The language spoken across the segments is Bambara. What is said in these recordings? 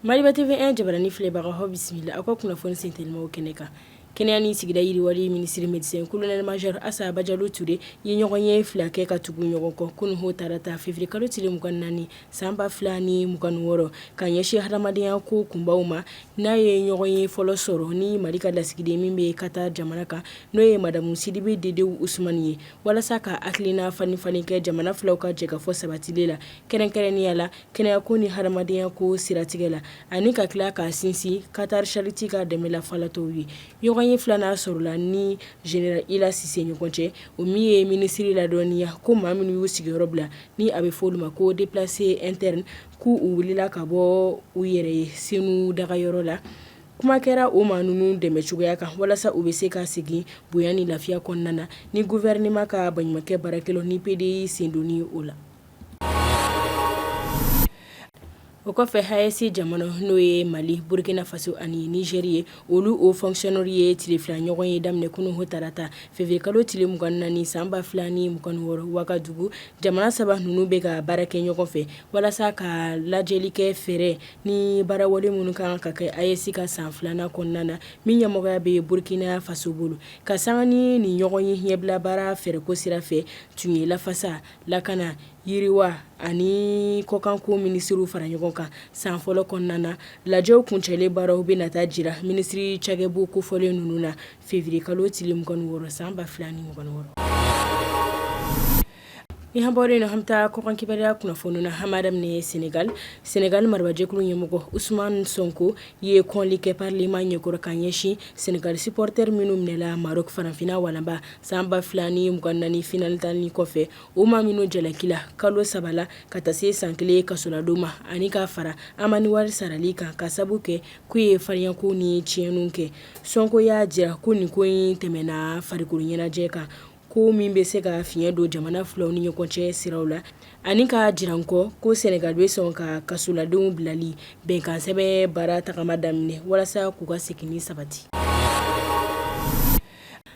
Maliba TV 1 jabaranin filɛbagaw aw bisimila aw ka kunnafoni senteliman kɛnɛ kan kɛnɛya ni sigida yiriwali minisiri medecin colonel major Assa Badiallo Toure ye ɲɔgɔn ye fila kɛ ka tugu ɲɔgɔn kɔ kunun o talata fevrier kalo tile 24 san ba fila ni mugan ni wɔɔrɔ ka ɲɛsin hadamadenya ko kunbaw ma n'a ye ɲɔgɔn ye fɔlɔ sɔrɔ ni mali ka lasigiden min bɛ Katar jamana kan n'o ye madamu Sidibe Dedewu Usumani ye walasa ka hakilina falenfalen kɛ jamana filaw ka jɛkafɔ sabatili la kɛrɛnkɛrɛnnenya la kɛnɛyako ni hadamadenya ko siratigɛ la ani ka tila ka sinsin Katar Charity ka dɛmɛ la falatɔw ye ɲɔgɔn ye filanan sɔrɔla ni general Ila Sise ɲɔgɔn cɛ o min ye minisiri ladɔnniya ko maa minnu y'u sigiyɔrɔ bila ni a bɛ fɔ olu ma ko deplaces internes k' u wulila ka bɔ u yɛrɛ ye Senu dagayɔrɔ la kuma kɛra o maa ninnu dɛmɛ cogoya kan walasa u bɛ se ka segin bonya ni lafiya kɔnɔna na ni gouvernement ka baɲumankɛ baarakɛlaw ni PDI sendonni o la o kɔfɛ AES jamana n'o ye mali burukina faso ani Nizɛri ye olu hauts fonctionnaires ye tile fila ɲɔgɔn ye daminɛ kunun tarata fevrier kalo tile mugan ni naani san ba fila ni mugan wɔɔrɔ wagadugu jamana saba ninnu bɛ ka baara kɛ ɲɔgɔn fɛ walasa ka lajɛli kɛ fɛɛrɛ ni baarawale minnu kan ka kɛ AES ka san filanan kɔnɔna na min ɲɛmɔgɔya bɛ burukina faso bolo ka san ni ni ɲɔgɔn ye ɲɛbila baara fɛɛrɛko sira fɛ tun ye lafasa lakana yiriwa ani kɔkanko minisiriw fara ɲɔgɔn kan san fɔlɔ kɔnɔna na lajɛw kuncɛlen baaraw bɛ na taa jira minisiri cakɛbon kofɔlen ninnu na fevrier kalo tile mugan wɔɔrɔ san ba fila ni mugan wɔɔrɔ ni an bɔra nin na an bɛ taa kɔkan kibaruya kunnafoni na an b'a daminɛ Senegal Senegal marabajɛkulu ɲɛmɔgɔ Usmani Sɔnko ye kɔnli kɛ parlement ɲɛkɔrɔ ka ɲɛsin Senegal supporter minnu minɛla Maroc farafinna walanba san ba fila ni mugan ni naani finali tanni kɔfɛ o maa minnu jalakila kalo saba la ka taa se san kelen kasoladon ma ani k'a fara alamani wari sarali kan k'a sabu kɛ k'u ye fariyakow ni tiɲɛniw kɛ sɔnko y'a jira ko nin ko in tɛmɛna farikolo ɲɛnajɛ kan ko min bɛ se ka fiɲɛ don jamana filaw ni ɲɔgɔn cɛ siraw la ani k'a jira kɔ ko Senegal bɛ sɔn ka kasoladenw bilali bɛnkansɛbɛn baara tagama daminɛ walasa k'u ka segin sabati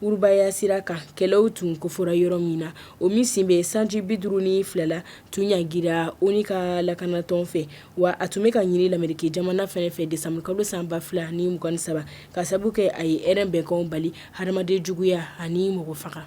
Urubaya sira kan kɛlɛw tun kofɔra yɔrɔ min na o min si bɛ sanji bi duuru ni fila la tun ɲangira ONU ka lakanatɔn fɛ wa a tun bɛ ka ɲini lamerike jamana fɛnɛ fɛ desanburu kalo san ba fila ni mugan ni saba ka sabu kɛ a ye hɛrɛ bɛnkanw bali hadamaden juguya ani mɔgɔ faga